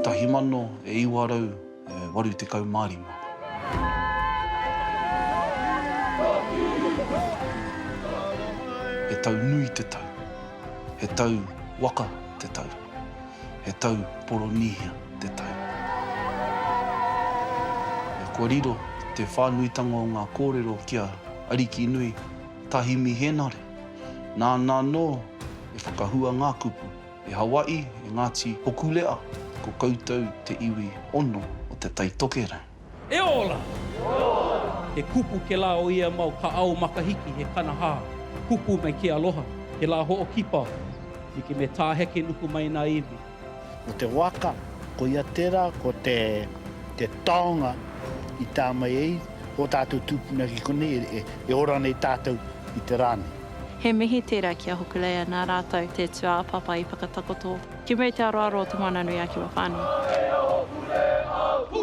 Tahi mano e iwa rau e waru tekau ma rima. He tau nui te tau. He tau waka te tau. He tau Poronīhia te tau. Kua riro te whānuitanga o ngā kōrero ki a Arikinui. Tahi Mihenare. Nāna anō e whakahua ngā kupu, e Hawaii, e Ngāti Hokulea, ko koutou te iwi ono o Te Tai Tokerau. E ora! He kupu ke la o ia mau ka ao makahiki he kanaha kupu mai ke aloha, ke la hookipa, like me taa heke nuku mai na iwi. Ko te waka, koia tērā, ko te taonga i tā mai ai ō tātou tūpuna ki konei, e ora nei tātou i te rā nei. He mihi tērā ki a Hokulea nā rātou te tūāpapa i whakatakoto. Ki muri te aroaro o Te Moananui-a-Kiwawhānui. Aea Hokulea, ū!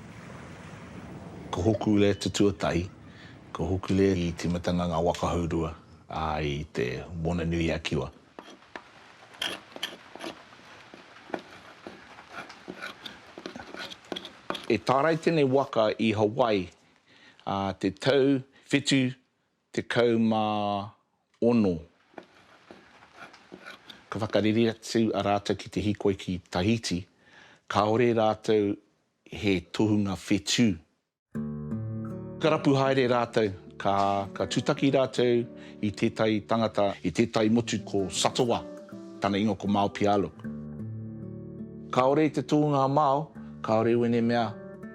Ko Hokule te tuatahi, ko Hokule i tīmatanga ngā waka hourua i te Moana-nui-a-Kiwa. I tārai tēnei waka i Hawaii te tau whitu Tekau mā ono. Ka whakareri atu a rātou ki te hikoi ki Tahiti, kāore rātou he tohunga whetū. Ka rapu haere rātou, ka tūtaki rātou i tētahi tangata, i tētahi motu ko Satoa, tana ingoa ko Mao Pialuk. Kāore i te tohunga a Mao, kāore i wēnei mea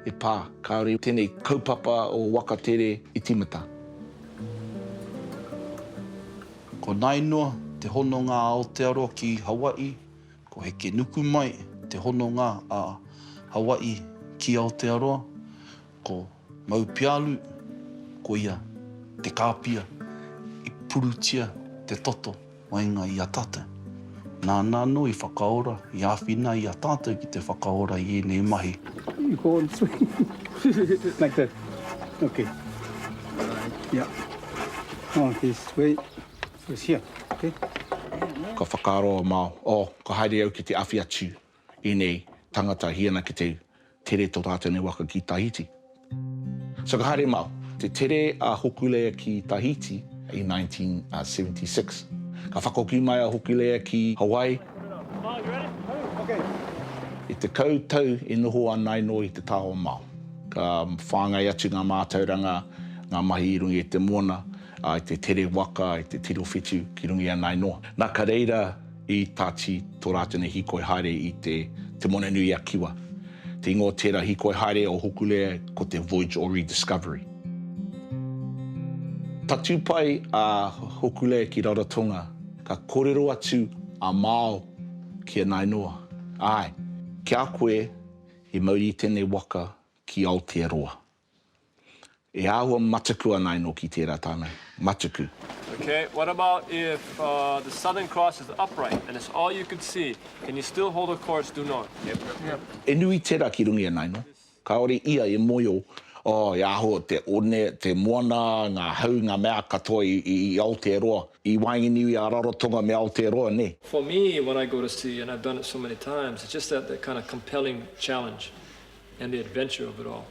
e pā, kāore i tēnei kaupapa o waka tere i tīmata. Ko Nainoa, te hononga a Aotearoa ki Hawaii, ko Hekenukumai, te hononga a Hawaii ki Aotearoa, ko Maupialu, koia te kāpia i purutia te toto. Waenga i a tātou. Nāna anō i whakaora, i āwhina i a tātou ki te whakaora i ēnei mahi. I kōrero. Like that. Okay. Yeah. Oh, this way. This here. Okay. Ka whakaaro a Mao, Oh, ka haere au ki te awhi atu. Enei tangata hi ana ki te tere to ratou nei waka ki Tahiti. So ka haere mau. Te tere a Hokulea ki Tahiti i 1976. Ka whakahoki mai a Hokulea ki Hawaii. I te kau tau i noho a Nainoa i te taha o Mao. Ka whangai atu nga matauranga, nga mahi i runga i te mona, i te tere waka, i te tiro whitu ki runga i a Nainoa. Na ka reira I Tati tō rātou nei hīkoi haere i te Moana-nui-a-Kiwa. Te ingoa o tērā hīkoi haere o Hokulea ko te Voyage or Rediscovery. Tatū pai a Hokulea ki Rarotonga, ka kōrero atu a Mao ki a Nainoa, Āe, ki a koe i mauri i tēnei waka ki Aotearoa. E āhua mataku ana enoki tērā tāngai. Mataku. Ok, what about if the Southern Cross is upright and it's all you could see, can you still hold a course due north? Yep. E nui tera ki runga i a naino. Kaore ia e moio, oh, e aho te one, te moana, nga hau, nga mea katoa i Aotearoa, i waenganiu i a Rarotonga me Aotearoa, ne? For me, when I go to sea, and I've done it so many times, it's just that kind of compelling challenge. and the adventure of it all.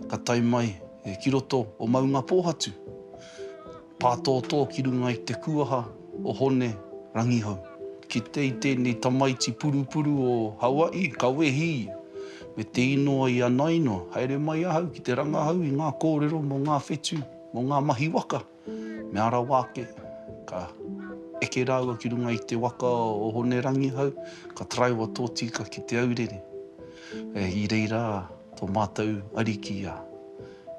Ka tae mai ki roto o Maungapōhatu, pātōtō ki runga i te kūaha o Hone Rangihau. Ki te i tēnei tamaiti purupuru o Hawaii, ka wehi ia, me te īnoa i a Naino, haere mai ahau ki te rangahau i ngā kōrero mō ngā whetū, mō ngā mahi waka. Mea rawa ake, ka eke rāua ki runga i te waka o Hone Rangihau, ka taraiwa tō tīka ki Te Aurere. I reira tō mātou ariki a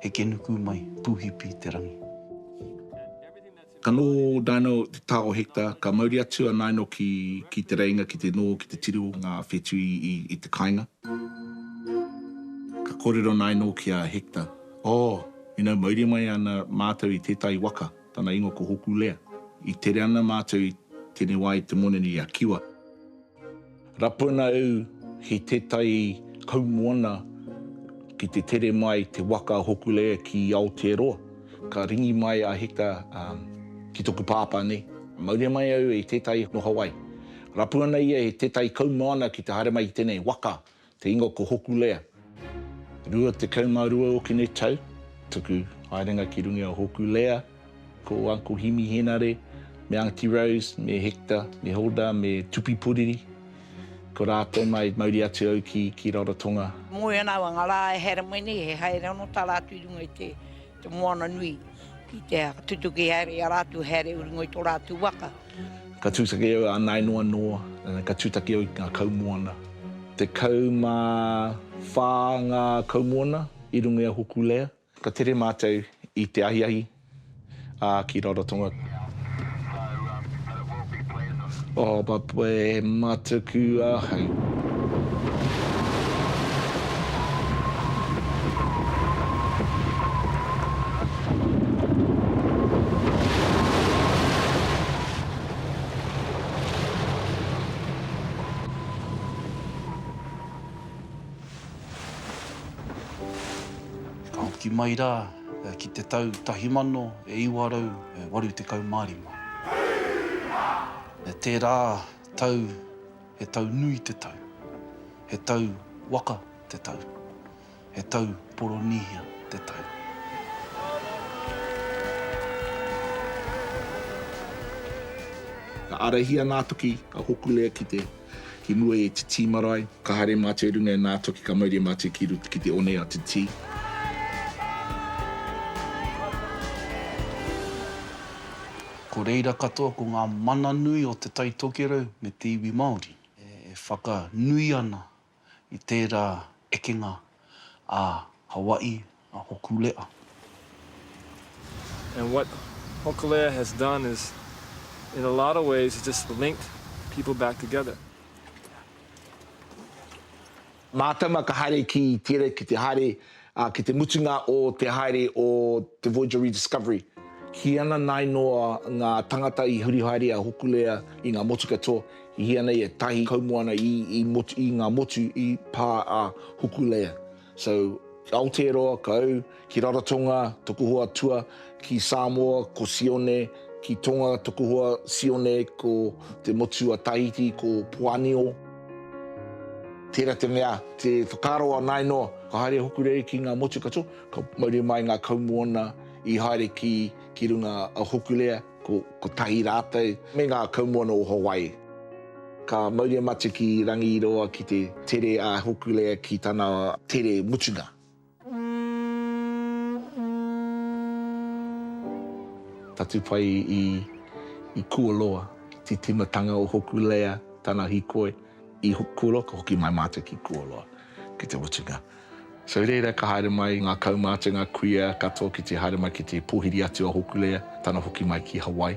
Hekenuku mai Pūhipi te rangi. Ka nō naino te tao hekta, ka mauri atu a naino ki Te Reinga ki te nō, ki te tiro o ngā whetū i te kainga. Ka kōrero naino ki a Hekta. Oh, ina mauri mai ana matou i tetahi waka, tana ingoa ko Hokulea, i tere ana matou i tene wa i te monene i a Kiwa. Rapu ana au ki tetahi kaumoana ki te tere mai te waka a Hokulea ki Aotearoa. Ka ringi mai a Hector ki toku pāpā nei, Mauri mai au i tetahi no Hawaii. Rapu ana ia i tetahi kaumoana ki te haere mai i tenei waka, Te ingoa ko Hokulea. 22 okine tau, tuku haerenga ki runga i a Hokulea, ko Uncle Himi Henare, me Aunty Rose, me Hector, me Hilda, me Tupi Puriri. Ko ratou ma i mauri atu au ki Rarotonga. Moe ana au a Ngarae Heremene, he haere ono tara atu i runga i te Te moana nui ki te tutuki haere i a rātou, haere uri ngoi tō rātou waka. Ka tūtaki au a Nae Noa Noa, ka tūtaki au ki ngā kaumoana. Tekau mā whā ngā kaumoana i runga i a Hokulea. Ka tere mātou i te ahiahi, ā, ki Rarotonga. Oh but we matuku ahau. Ka hoki mai rā ki te tau tahi mano e iwa rau e 85. E tērā tau he tau nui te tau, he tau waka te tau, he tau Poronīhia te tau. Ka ārahia ngā toki ka hokule ki te Ki mua i te tī marae. Ka haere mātou i runga e nā toki ka mauria mātou ki rut ki te one a te tī. Ko reira katoa ko ngā mana nui o Te Tai Tokerau me te iwi Māori e whaka nui ana i tērā ekenga a Hawaii, a Hokulea. And what Hokulea has done is in a lot of ways has just linked people back together. Mātama ka haere ki Tere ki te haere Ā, ki te mutunga o te haere o te Voyager Rediscovery, kī ana nāi noa ngā tangata i huri haere a Hokulea i ngā motu katoa, i hia nei ētahi kaumoana i i motu i ngā motu i pā a Hokulea. So, Aotearoa, ka au ki Rarotonga, toku hoa tua, Ki Samoa ko Sione, ki Tonga Tokohoa Sione, ko te motu a Tahiti ko Poanio. Tērā te mea, te whakaaro a Nainoa, ka haere hoku rei ki ngā motu katoa, ka mauri mai ngā kaumoana i haere ki ki runga a Hokulea, ko kotahi rātou, me ngā kaumoana o Hawaii. Ka mauri a Matu ki Rangiroa ki te tere a Hokulea ki tana tere mutunga. Tatu pai i i Kuoloa, ti timatanga o hoku lea tana hikoi i Kuoloa ka hoki mai matou ki Kuoloa ki te mutunga. So i reira ka haere mai nga kaumātua nga kuia katoa ki te haere mai ki te pohiri atu a hoku lea tana hoki mai ki Hawaii.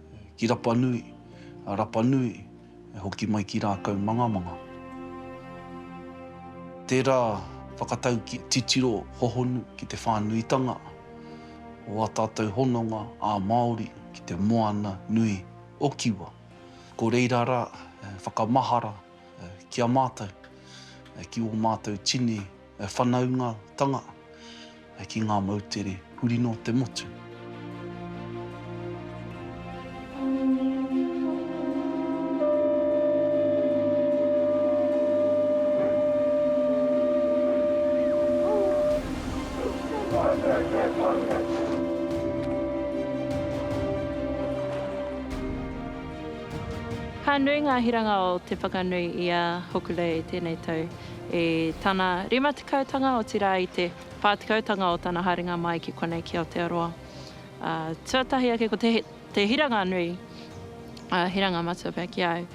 ki Rapanui, a Rapanui e hoki mai ki Rākau Mangamanga. Tērā whakatau ki titiro hohonu ki te whānuitanga o ā tātou hononga ā-Māori ki te moana nui o Kiwa. Ko reira rā e whakamahara ki a mātou, ki ō mātou tini. Whanaungatanga ki ngā moutere huri nō te motu. Ka nui ngā hiranga o te whakanui i a Hokulei tēnei tau. i tana rima tekau tanga, otirā i te whā tekau tanga o tana haerenga mai ki konei ki Aotearoa. Ā, tuatahi ake ko te, te hiranga nui, ā, hiranga matua pea ki a au,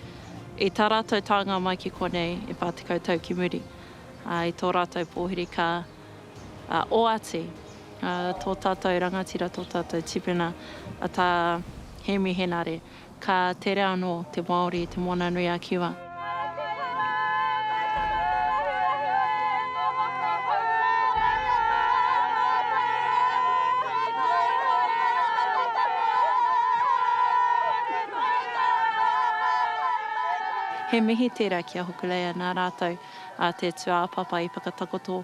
i tā rātou taenga mai ki konei e whā tekau tau ki muri, ā, i tō rātou pōhiri ka, ā, oati, ā, tō tātou rangatira, tō tātou tipuna, a Tā Hēmi Henare. Ka tere anō te Māori i Te Moana-nui-a-Kiwa. He mihi tērā ki a Hokulea nā rātou te tūāpapa i whakatakoto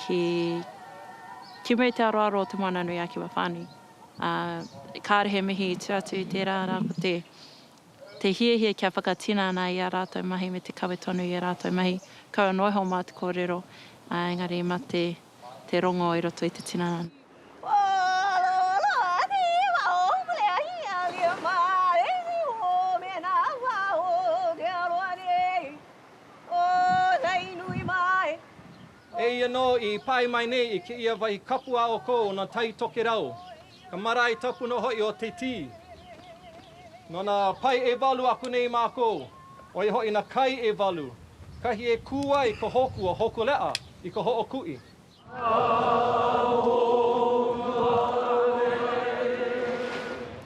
ki Moutearoaro o Te Moana-nui-a-Kiwa whānui. ā, kāore he mihi i tū atu i tērā, arā, ko te, te hiahia kia whakatinana i ā rātou mahi me te kawe tonu i ā rātou mahi. Kaua noa iho mā te kōrero, ā, engari mā te, te rongo i roto i te tinana. E ia nō i pae mai nei i ki ia wai kapua o ko ona tai toke rau, ka marae tapu no hoi o te ti. No na pae e walu aku nei makou, oi hoi na kai e walu, kahi e ku ai ko hoku o Hokulea i ko Hookui. Ka hoku a Hookui.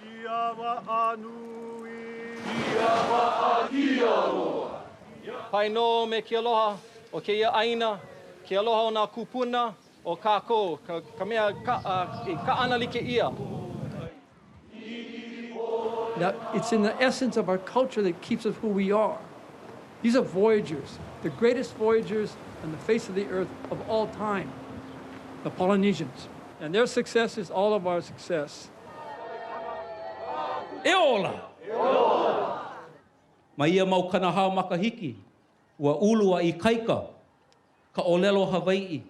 Ki awa a nui. Ki awa a ki aroa. Pai no me ki aloha o keia aina, ki aloha o na kupuna o kakou, ka, ka mea ka, a, i kaana like ia. Now, it's in the essence of our culture that keeps us who we are. These are voyagers, the greatest voyagers on the face of the earth of all time, the Polynesians. And their success is all of our success. E ola! Ma ia mau kanahao makahiki, ua ulu a Ikaika, ka olelo Hawai'i.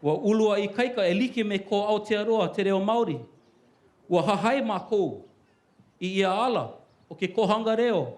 Ua ulu a Ikaika e like me ko Aotearoa te reo Maori. Ua hahai makou i ia ala o ke kohanga reo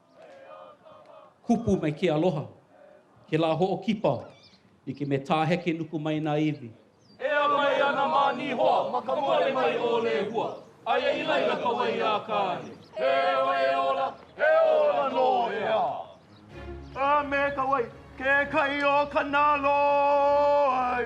Kupu me ke aloha. Ke la hookipa. I ke me tahe ke nuku mai na iwi. Ea mai ana ma Nihoa, ma ka moe mai o Lehua. Aia i laila ka wai ia Akane. He wai e ola, he ola no ea. A me ka wai, ke kai o Kanaloa ai.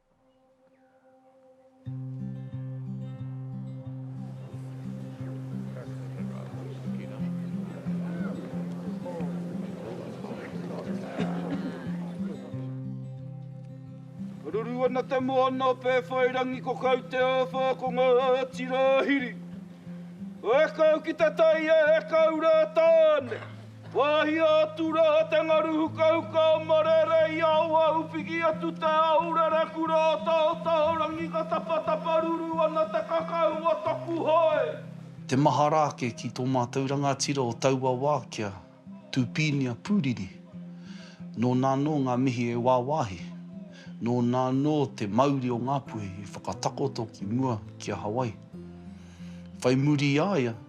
Ruru ana te moana o Pēwhairangi ko kau te āwha ko Ngāti Rāhiri. E kau ki te tai e kau rā tāne. Wāhi atu rā te ngaru hukahuka o Marere i Aoahu piki atu te au rereku rā taotao rangi ka tapatapa ruru ana te kakau o taku hoe. Te mahara ake ki tō mātou rangatira o taua wā ki a Tūpīnia Pūriri. Nō nā anō ngā mihi e wāwāhi. Nō nā anō te mauri o Ngāpuhi i whakatakoto ki mua ki a Hawaii. Whai muri i a ia,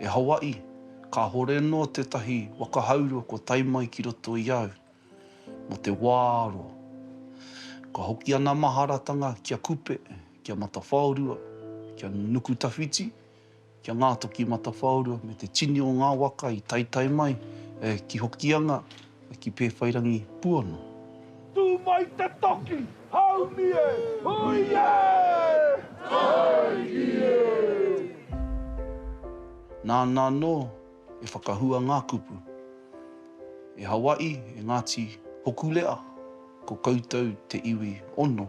E Hawaii, kahore no tetahi waka haurua kua tae mai ki roto i au, mo te wa aro. Ka hoki ana maharatanga ki a Kupe, ki a Matawhaorua, ki a Nukutawhiti, ki a Ngatoki Matawhaorua me te tini o nga waka i taetae mai ki Hokianga, Ki Pēwhairangi puono. Tū mai te toki, haumi e! Hui e! Taiki e! Nāna anō e whakahua ngā kupu. E Hawaii, e Ngāti Hokulea, ko koutou te iwi ono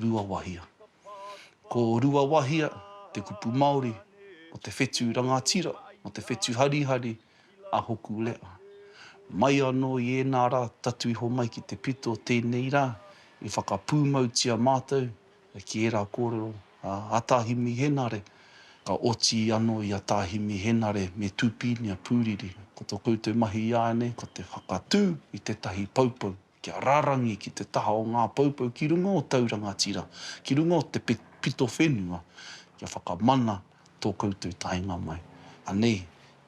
Ruawahia. Ko Ruawahia te kupu Māori o te whetū rangatira, o te whetū harihari a Hokulea. Mai anō i ēnā rā tatu iho mai ki te pito o tēnei rā, i whakapūmautia mātou ki ērā kōrero a Tā Himi Henare, ka oti anō i a Tā Himi Henare me Tūpīnia Pūriri. Ko tō koutou mahi ināianei ko te whakatū i tētahi poupou. Kia rārangi ki te taha o ngā poupou ki runga o tau rangatira, ki runga o te pito whenua, kia whakamana tō koutou taenga mai. Anei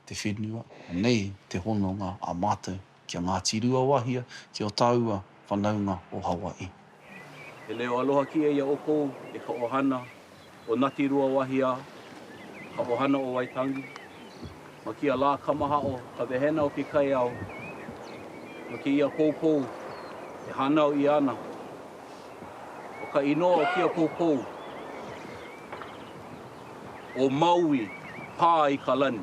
te whenua, anei te hononga a mātou ki a Ngāti Ruawahia, ki o tāua whanaunga o Hawaii. He leo aloha ki a ia o kou e ka ohana o Nati Ruawahiao, ka ohana o Waitangi, ma kia la Kamahao, ka wehena o ki Kaiao, ma ki ia poupou e hanao ia ana, o ka inoa o kia poupou, o Maui, pa i ka lani.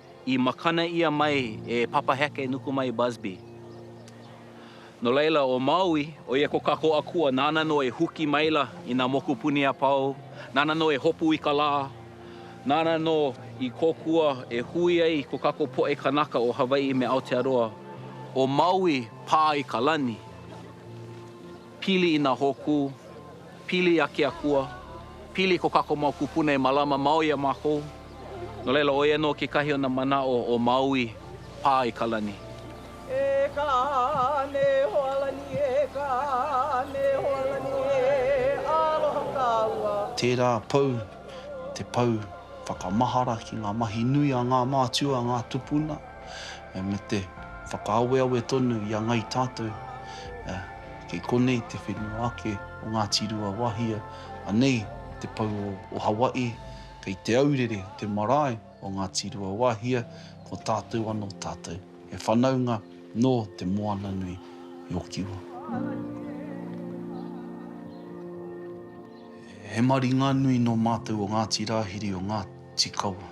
I makana ia mai e Papa Heke nuku mai Busby. No laila o Maui, oia ko Kakoakua nana no e huki maila i na mokupuni a Pau, nana no e hopu i ka la, nana no i kokua e hui ai ko kako poe kanaka o Hawaii me Aotearoa, o Maui pa i ka lani. Pili ina hoku, pili a Keakua, pili ko kako mau kupuna e malama mau ia makou. No laila oia no kekahi ona manao o Maui pa i ka lani. E ka me Hoalani e ka me Hoalani e aloha kaua. Tērā pou, te pou whakamahara ki ngā mahi nui a ngā mātua, ngā tupuna. me te whakaaweawe tonu i a Ngai Tātou, kei konei te whenua ake o Ngāti Ruawahia, anei te pou o Hawaii, kei Te Aurere te marae o Ngāti Ruawahia, ko tātou anō tātou, he whanaunga nō Te Moananui i Okiwa. He maringanui nō mātou o Ngāti Rāhiri o Ngāti Kawa.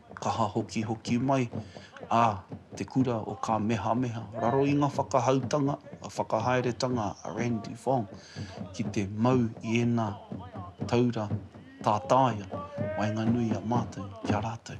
o Kaha Hokihoki mai a Te Kura o Kamehameha raro i nga whakahautanga, nga whakahaeretanga a Randy Fong ki te mau i ena taura tātaia waenganui i a matou ki a ratou.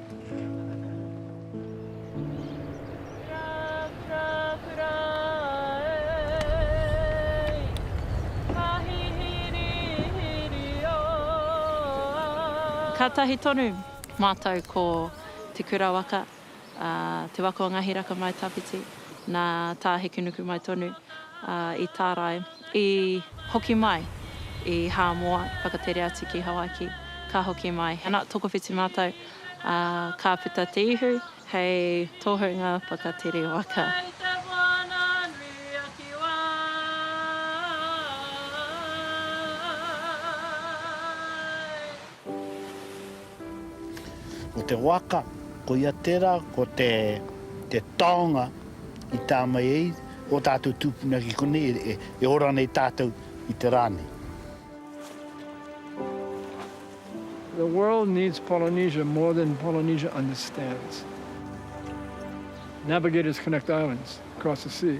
Kātahi tonu mātou ko Te Kura Waka, te waka o Ngāhi Raka Mai Tawhiti, nā Tāhekinuku mai tonu i tārai. I hoki mai i Hāmoa, whakatere atu ki Hawaiki, ka hoki mai. Ana, tokowhiti mātou, ā, ka puta te ihu hei tohunga whakatere waka. Mai i te moana nui a Kiwa. Ko te waka, koia tērā, ko te taonga i tā mai ai ō tātou tūpuna ki konei e ora nei tātou i te rā nei. The world needs Polynesia more than Polynesia understands. Navigators connect islands across the sea.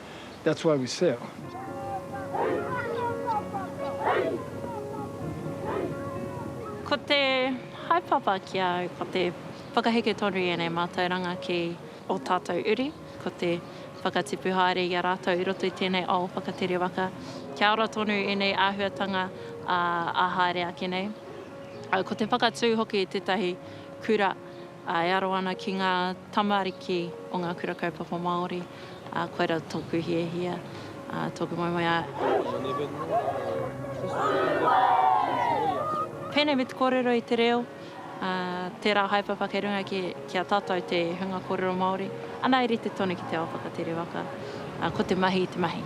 that's why we sell. Ko te haepapa ki a au, ko te whakaheke tonu i enei mātauranga ki o tātou uri, ko te whakatipu haere i a rātou i roto i tenei ao whakatere waka, kia ora tonu enei āhuatanga a haere ake nei. Ko te whakatū hoki i tetahi kura, E aro ana ki ngā tamariki o ngā Kura Kaupapa Māori, ā, koirā tōku hiahia, ā, tōku moemoeā. Pēnei me te kōrero i te reo, ā, tērā haepapa kei runga ki, ki a tātou te hunga kōrero Māori, ana e rite tonu ki te ao whakatere waka, ā, ko te mahi te mahi.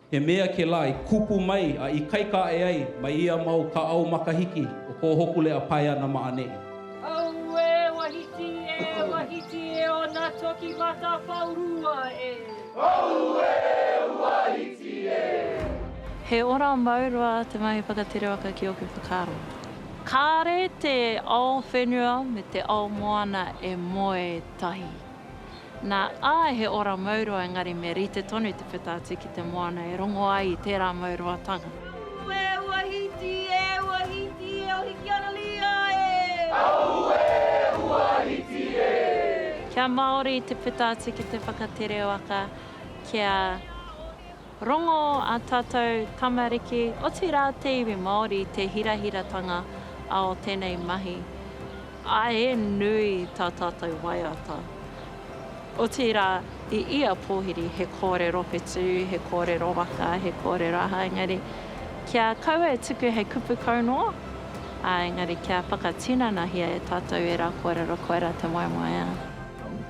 He mea ke la i kupu mai a i kai ka e ai mai ia mau ka au makahiki o ko Hokulea pae ana ma aneʻi. Aue wahiti e wahiti e ona toki matapaurua e. Aue wahiti e. He ora mau roa te mahi whakatere waka ki oku whakaaro. Kare te ao whenua me te ao moana e moe tahi. Nā, āe he ora mauroa engari me rite tonu te puta atu ki te moana e rongo ai i tērā mauroatanga. Ue, ua hiti e, ua hiti e o Hikianalia e! Aue, ua hiti e! Kia Māori te puta atu ki te whakatere waka, kia. Rongo ā tātou tamariki, otirā te iwi Māori i te hirahiratanga āo tēnei mahi. Ā, e nui tā tātou waiata. Otirā, i ia pōhiri he kōrero whetū, he kōrero waka, he kōrero aha, engari, kia kaua e tuku hei kupu kau noa, ā, engari kia whakatinanahia e tātou ērā kōrero koirā te moemoeā.